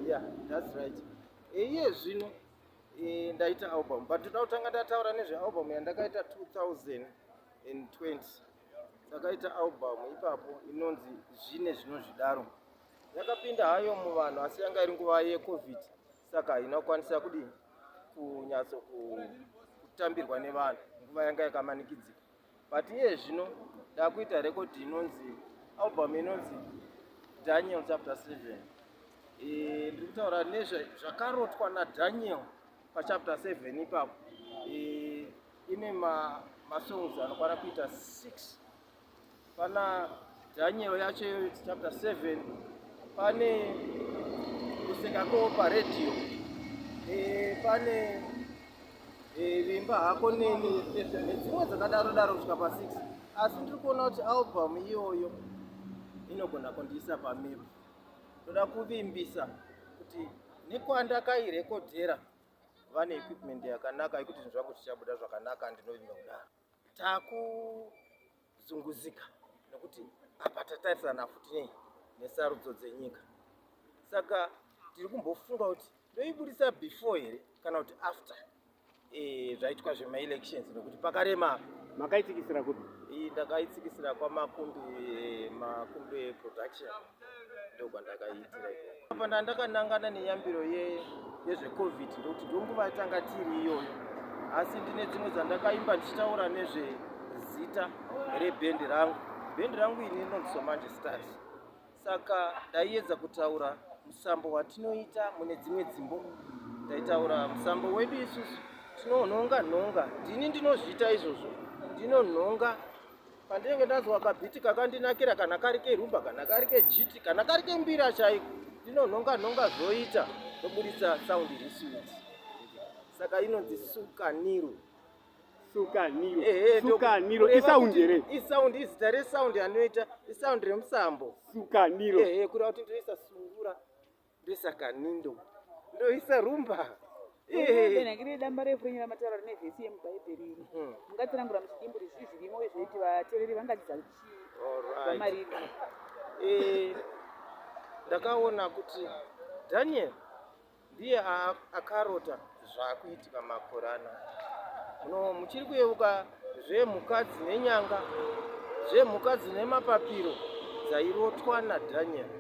yeah that's right iye eh, zvino eh, ndaita album but ndoda kutanga ndataura nezvealbum yandakaita 2020 ndakaita album ipapo inonzi zvine zvinozvidaro yakapinda hayo muvanhu asi yanga iri nguva yecovid saka haina kukwanisa kudii kunyatso kutambirwa nevanhu nguva yanga yakamanikidzika but iye zvino ndakuita rekodhi inonzi album inonzi daniel chapter 7 e, ndiri kutaura nezvakarotwa nadaniel pachapter 7 ipapo e, ine masongs anokwana kuita 6 pana Daniel yacho iyoyo chapter 7 pane kuseka ko paredhiyo eh, pane eh, vimba hako neni nedzimwe dzakadaro daro kusvika pa 6 asi ndiri kuona kuti album iyoyo inogona kundiisa pamiro ndoda kuvimbisa kuti nekwandakairekodhera vane equipment yakanaka yekuti zvinhu zvangu zvichabuda zvakanaka ndinovimba kudaro Takuzunguzika nekuti apa tatarisana futi nei nesarudzo dzenyika saka tiri kumbofunga kuti toibudisa before here kana kuti after eh, zvaitwa zvemaelections nekuti pakarema makaitsikisira kuti ndakaitsikisira kwamakumbi eh, makumbi production ndokwandakaitira apa ndandakanangana neyambiro yezvecovid ndokuti ndonguva yatanga tiri iyoyo asi ndine dzimwe dzandakaimba ndichitaura nezvezita rebhendi rangu bhendi rangu ini rinonzi somanje stars saka ndaiedza kutaura musambo watinoita mune dzimwe dzimbo ndaitaura musambo wedu isusu tinonhonga nhonga ndini ndinozviita izvozvo ndinonhonga pandinenge ndanzwa kabhiti kakandinakira kana kari kerumba kana kari kejiti kana kari kembira chaiko ndinonhonga nhonga zvoita ndoburitsa saundi risuiti saka inonzi sukaniro sukaniro ehe sukaniro kureva isaundi kuti here isaundi izita resaundi anoita isaundi remusambo sukaniro ehe kureva kuti ndinoisa sungura ndosaka nindo ndoisa rumba benakire damba refu renyera mataura rine vhesi yemubhaibheri iri hmm. mungatsanangura muchidimbu rizvii zvirimo uye zvinoiti vateereri vangadzidza chiiamariri eh, ndakaona kuti daniel ndiye akarota zvaakuitika makore ano no muchiri kuyeuka zvemhuka dzine nyanga zvemhuka dzine mapapiro dzairotwa nadaniel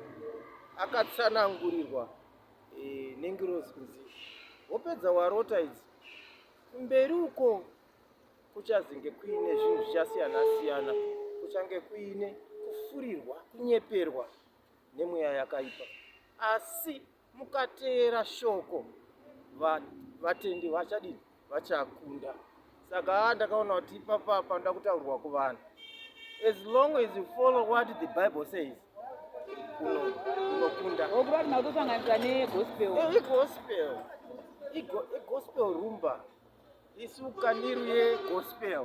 akatsanangurirwa e, nengirozi kunzi wopedza warota idzi kumberi uko kuchazenge kuine zvinhu zvichasiyana siyana kuchange kuine kufurirwa kunyeperwa nemweya yakaipa asi mukateera shoko vatendi vachadini vachakunda saka ndakaona kuti ipapa panoda kutaurwa kuvanhu as long as you follow what the bible says unokunda okuba tinotosanganisa negospel eh, igospel igospel rumba isuka niru yegospel